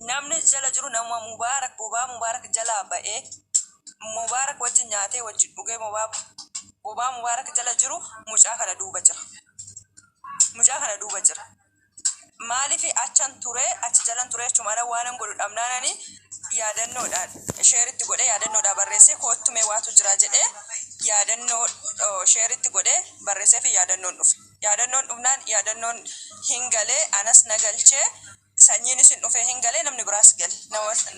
Namni jala jiru namuma Mubaarak bobaa Mubaarak jalaa ba'ee Mubaarak wajjin nyaatee wajjin dhugee bobaa Mubaarak jala jiru mucaa kana duuba jira. Mucaa kana duuba jira. Maaliif achan ture achi jalan ture jechuun ala waanan godhu dhabnaanani yaadannoodhaan sheeritti godhee yaadannoodhaan barreessee koottumee waatu jira jedhee yaadannoo sheeritti godhee barreessee fi yaadannoon dhufe. Yaadannoon dhufnaan yaadannoon hin galee anas na galchee Sanyiinis hin dhufee hin galee namni biraas gale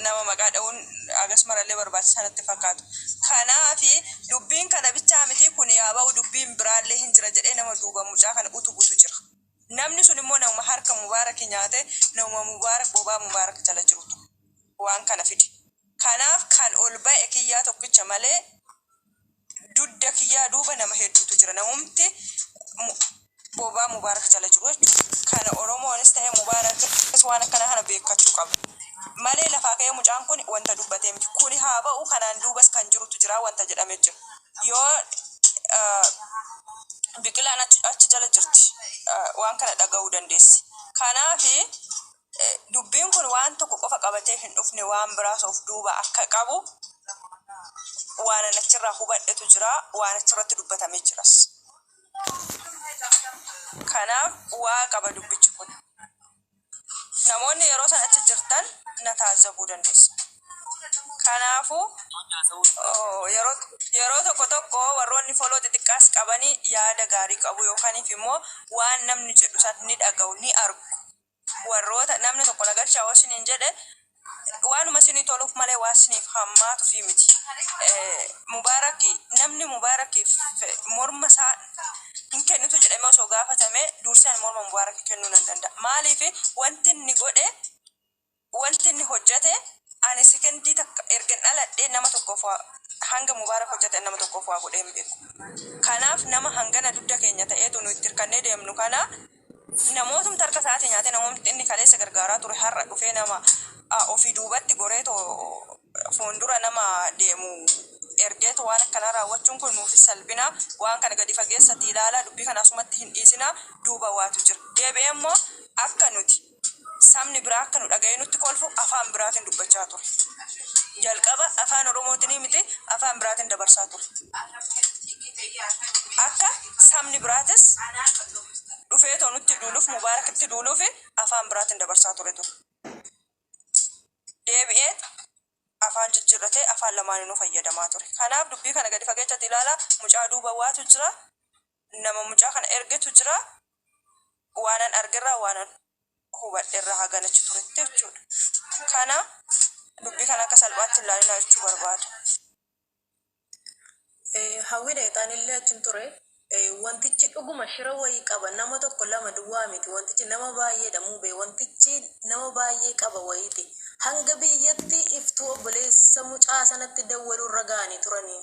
nama maqaa dha'uun agas marallee barbaachisaa natti hin fakkaatu. Kanaaf dubbiin kana bichaa mitii kuni yaa ba'u dubbiin biraallee hin jira jedhee nama duuba mucaa kana utubutu jira. Namni sun immoo namuma harka Mubaaraki nyaate namuma Mubaarak bobaa Mubaarak jala jirutu waan kana fide. Kanaaf kan ol ba'e kiyyaa tokkicha malee. Dudda kiyyaa duuba nama hedduutu jira. Namumti bobaa Mubaarak jala jiru jechuudha. Kana Oromoonis ta'ee Mubaarakis waan akkanaa kana beekkachuu qaba. Malee lafaa ka'ee mucaan kuni wanta dubbatee miti. Kuni haa ba'u kanaan duubas kan jirutu jira wanta jedhame jira. Yoo Biqilaan achi jala jirti waan kana dhagahuu dandeessi. Kanaafi. Dubbiin kun waan tokko qofa qabatee hin dhufne waan biraas of duuba akka qabu waanan achirraa hubadhetu jira, waan achirratti dubbatame jiras. Kanaaf bu'aa qaba dubbichi kun. Namoonni yeroo san achi jirtan na taazzabuu dandeessan. Kanaafuu yeroo tokko tokko warroonni foloo xixiqqaas qabani yaada gaarii qabu yookaaniif immoo waan namni jedhu san ni dhagahu, ni argu. Warroota, Namni tokko na galchaa hoo isiniin jedhe, waanuma isinii toluuf malee waan isiniif hammaatuufii miti. Mubaarakki, Namni Mubaarakkiif morma isaa hin kennitu jedhamee osoo gaafatamee, dursee ani morma Mubaarakki kennuu nan danda'a. Maaliif? Wanti inni godhe. Wanti inni hojjate, Ani sekondii takka ergan dhaladhee nama tokkoof waa, hanga Mubaarak hojjate ani nama tokkoof waa godhee hin beeku. Kanaaf nama hangana dugda keenya ta'eetu nu itti hirkannee deemnu kana namootumti harka isaatii nyaatee, namootumti inni kaleessa gargaaraa ture har'a dhufee nama ofii duubatti goreetoo fuundura nama deemu ergeetu waan akkanaa raawwachuun kun nuufis salphina. Waan kana gadi fageessati ilaalaa dubbii kana asumatti hin dhiisinaa duuba waatu jira. Deebi'ee immoo akka nuti. sabni biraa akka nu dhaga'ee nutti kolfu afaan biraatiin dubbachaa ture. Jalqaba afaan Oromootinii miti afaan biraatiin dabarsaa ture. Akka sabni biraatis dhufee too nutti duuluuf Mubaarakitti duuluuf afaan biraatiin dabarsaa ture ture. Deebi'ee afaan jijjiirratee afaan lamaaninuu fayyadamaa ture. Kanaaf dubbii kana gadi fageechatti ilaalaa mucaa duuba waatu jira. Nama mucaa kana ergetu jira. Waanan argerraa waanan hubadherraa hagan achi turetti jechuudha. Kana dubbii kana akka salphaatti hin laalinaa jechuu barbaada. Hawwii Dayxaan illee achi hin ture. Wantichi dhuguma shira wayii qaba. Nama tokko lama duwwaa miti. Wantichi nama baay'eedha Mubee. Wantichi nama baay'ee qaba wayiiti. Hanga biyyatti iftuu obboleessa mucaa sanatti dawwaluu irra ga'anii turanii.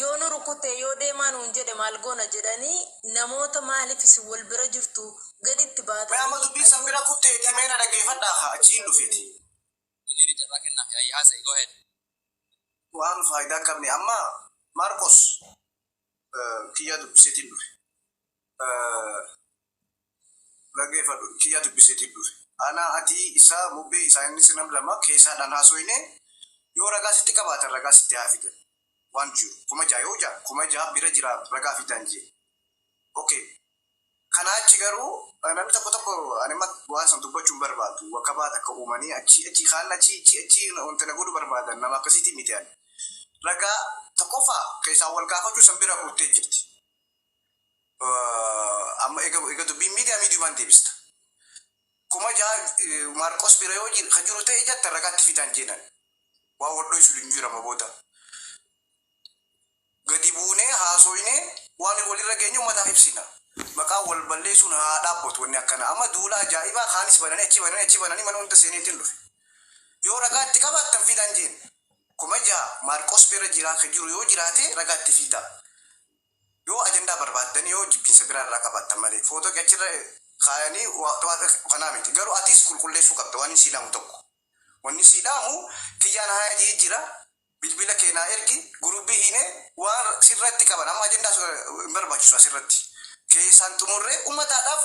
Yoo nu rukutte yoo deemaa nuun jedhe maal goona jedhanii namoota maaliif isin wal bira jirtu gadi itti baatanii Mee amma dubbii san bira kutteetii mee na dhaggeeffadhaa kaa achiin dhufeti. Delirii carraa kennaafi ayii haasayi go ahead. waan faayidaa hin qabne amma Maarqos kiyyaa dubbiseetiin dhufe. Dhagefadhu kiyaa dubiseti dhufe. Anaa atii isaa mubee isaa innis nam lama keesaa dhaan haasoyinee yoo ragaa sitti qabaatan ragaa sitti haa fidan waan jiru kuma ja'a yoo ja'a kuma ja'a bira jira ragaa fidaan jee ok kanaa achi garuu namni tokko tokko ani amma waan san dubbachuu hin barbaadu wakabaa takka uumanii achii achii kaan achii achii achii wanta na godhu barbaadan nama akkasiitii miti ani ragaa tokkoffaa keessaa wal gaafachuu san bira kuttee jirti amma ega dubbiin miidiyaa miidiyumaan deebista. Kuma ja'a Maarqos bira yoo jiru kan jiru ta'e jatta ragaatti fidaan jeenan. Waan wal dho'isu hin jiru amma booda. Gadi buunee haasoinee waan walirra geenyu uummataaf ibsina. Maqaa wal balleessuun haa dhaabbatu wanni akkana. Amma duula ajaa'ibaa kaanis bananii achi bananii achi bananii mana hunda seenee ittiin dhufe. Yoo ragaatti qabaattan fidaan jeen. Kuma ja'a Maarqos bira jiraa kan jiru yoo jiraate ragaatti fidaa. Yoo ajandaa barbaaddan yoo jibbiinsa biraa irraa qabaattan malee footoo kee achirra kaayanii kanaa miti garuu atis qulqulleessuu qabda waanin sii dhaamu tokko wanni sii dhaamu kiyyaan haaya jee jira bilbila kee naa ergi gurubii hiine waan sirratti qaban amma ajandaa hin barbaachisu asirratti keessaan xumurree ummataadhaaf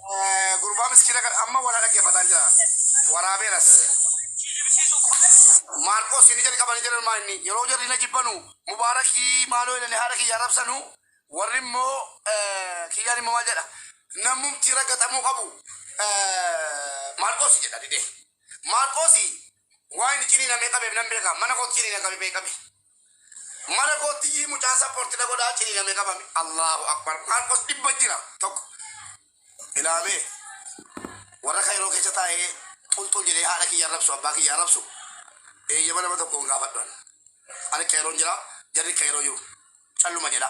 Gurbaa miskiina kan amma wal dhaggeeffataan jira. Waraabeeras. Maarqoos inni jalqaba ni jedhan maanni yeroo jarri na jibbanu mubaarakii maaloo jedhanii haadha kiyya arrabsanu warri immoo kiyyaan immoo maal jedha namumti raggaxamuu qabu Maarqoos jedha didee. Maarqoos Waa inni ciniina mee qabeef nan beeka mana kootti ciniina qabi mee qabi mana kootti yii mucaa sapporti na godhaa ciniina mee qabame Allahu akbar Maarqos dhibba jira tokko ilaa mee warra kayroo keessa taa'ee xulxul jedhee haadha kiyya arrabsu abbaa kiyya arrabsu eeyyama nama tokkoon gaafadhan ani kayroon jira jarri kayroo jiru calluma jedha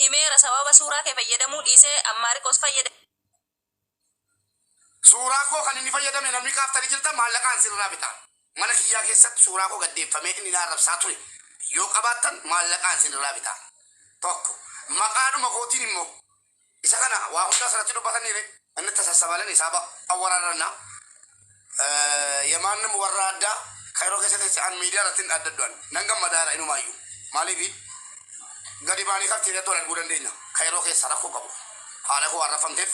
himeera sababa suuraa kee fayyadamuu dhiisee an maariqoos fayyadame. Suuraa koo kan inni fayyadame namni kaaftanii jirtan maallaqaan isin irraa bita. Mana kiyyaa keessatti suuraa koo gad deeffamee inni na arrabsaa ture yoo qabaattan maallaqaan isin irraa bita. 1, Maqaadhuma kootiin immoo Isa kana waa hundaa sanatti dubbatanii re inni itti sassabalani saaba awwararranna ya maannim warra adda kayiroo keessatti si an miidiyaa irratti hin adda du'an nan gammadaa ira inumaayyuu maaliifi gadi baanii kafteeriyaatti wal arguu dandeenya kayiroo keessa rakkoo qabu haadha koo arrabfamteef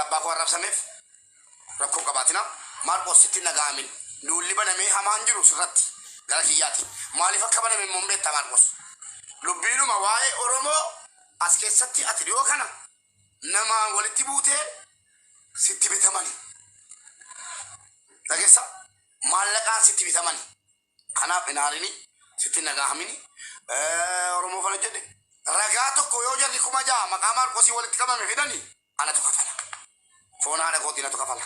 abbaa koo arrabsameef rakkoo qabaatina Maarqoos sitti hin dhaga'amin duulli banamee hamaa hin jiru sirratti gara kiyyaati maaliif akka baname immoo hin beekta Maarqoos dubbiidhuma waa'ee Oromoo as keessatti ati dhiyoo kana namaan walitti buutee sitti bitamani dhagessa maallaqaan sitti bitamani Kanaaf hin aarini, sitti hin dhagaahamini. Oromoo kana jedhe ragaa tokko yoo jarri kuma ja'a maqaa Maarqosii walitti qabame fidani anatu kafala. Foon haadha kootii natu kafala.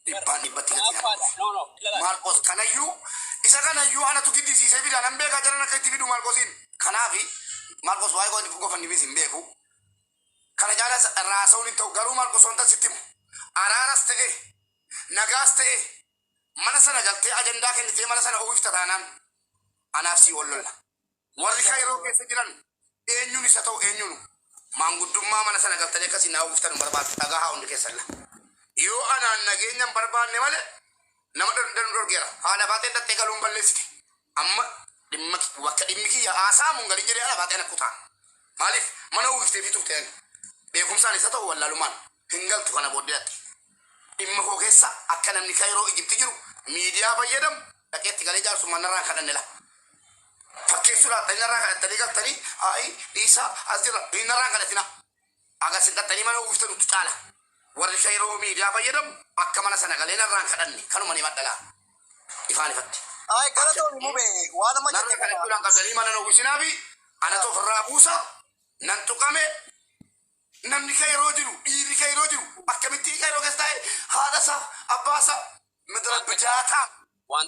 Dhibbaan dhibbatti natti haadha. Maarqos kanayyuu isa kanayyuu anatu giddisiisee fida nan beeka jaran akka itti fidu Maarqosiin. Kanaaf Maarqos waa'ee koo inni gofannimis hin beeku. Kana caalas irraa haasa'uun hin ta'u garuu Maarqos wanta sitti himu araaras ta'e nagaas ta'e Mana sana galtee ajandaa kennitee mana sana uwwifta taanaan anaaf sii wal lolla. Warri Kayiroo keessa jiran eenyuun isa ta'u eenyuunu maanguddummaa mana sana galtanii akka isin naa uwwiftan hin barbaadu. Dhagahaa hundi keessanla. Yoo anaan nageenya hin barbaanne malee nama dhan danu dhorgeera. Haadha baatee dhaxxee galuun balleessite. Amma dhimma ki- bakka dhimmi kiyya haasa'amuun galin jedhee ala baatee na kutaan. Maaliif mana uwwifteefii turte ani. Beekumsaan isa ta'u wallaalumaan hin galtu kana booddee atti. Dhimma koo keessa akka namni Kayiroo Ijipti jiru miidiyaa fayyadamu dhaqee itti galee jaarsummaan narraa hin kadhanne laa. Fakkeessuu laattanii narraa kadhattanii galtanii ayi dhiisaa as jirra hin narraa hin kadhatinaa. Aga sin dhattanii mana uwwiftanuttu caala. Warri ka yeroo miidiyaa fayyadamu akka mana sana galee narraan kadhanne kanuman himadha laa. Ifaan ifatti. Ayi galatoomi mube waan amma jette Narra kana. kadhachuu naan qabdanii mana hin uwwisinaafi anatu ofirraa buusa nan tuqame namni ka yeroo jiru dhiirri ka yeroo jiru akkamittii ka yeroo keessa taa'e haadhasa abbaasa midira bidaataa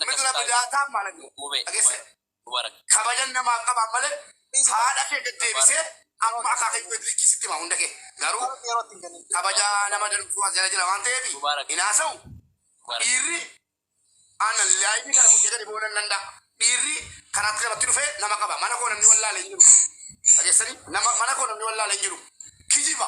midira bidaataa maal mube dhageesse. Mubarak. Kabajan namaaf qabaan malee haadha kee gad deebisee amma akaakayyu gad likki sitti hima hunda kee garuu Mubarak yeroo itti hin kennin. kabaja nama danfuu as jala jira waan ta'eef Mubarak. hin haasa'u Mubarak. dhiirri ana laayifii kana fudhee gadi boonan nan da'a dhiirri karaatti namatti dhufee nama qaba mana koo namni wallaale hin jiru dhageessanii nama mana koo namni wallaale hin jiru kijiba